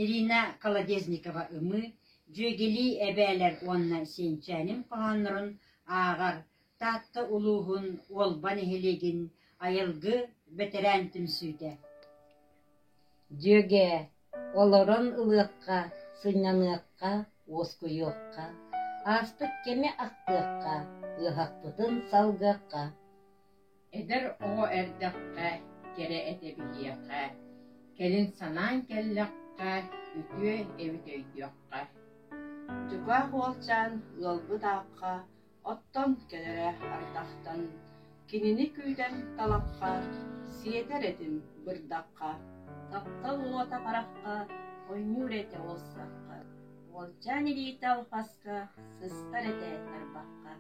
Ирина Колодезникова-Ымыы, дьүөгэлии эбээлэр уонна Сиэнчээним хоһооннорун ааҕар Таатта улууһун Уолба нэһилиэгин айылгы бэтэрээн түмсүүтэ Дьүөгээ, олорон ылыахха, сынньаныахха, уоскуйуохха, ааспыт кэми ахтыахха, ыаһахпытын салгыахха Эдэр оҕо эрдэххэ кэрэ этэ биһиэхэ, кэлин санаан кэллэххэ, үтүө эбит өйдүөххэ. Чугаас уолчаан ыалбыт аахха оттон кэлэрэ ардахтан кинини күүтэр талахха, сиэтэр этим бырдахха, таптал уота харахха ойнуур этэ уолсахха, уолчаан илиитэ алҕаска сыстар этэ тарбахха.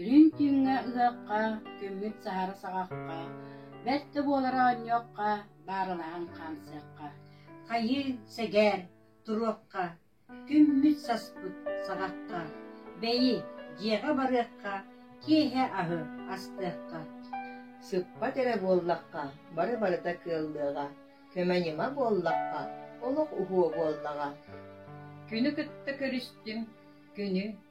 Лүҥкүүҥҥэ ыһыахха, күммүт саһары саҕахха, бэрт да буолара оонньуохха, баарылаһан хаамсыахха. Хайыы, сэгээр, туруохха, күммүт саспыт саҕахха, бэйи, дьиэҕэ барыахха, киэһэ аһы астыахха. Сыппат эрэ буоллахха, бары барыта кыаллыаҕа, көмө ньыма буоллахха, олох уһуо буоллаҕа. Күнү кытта көрүстүм, күнү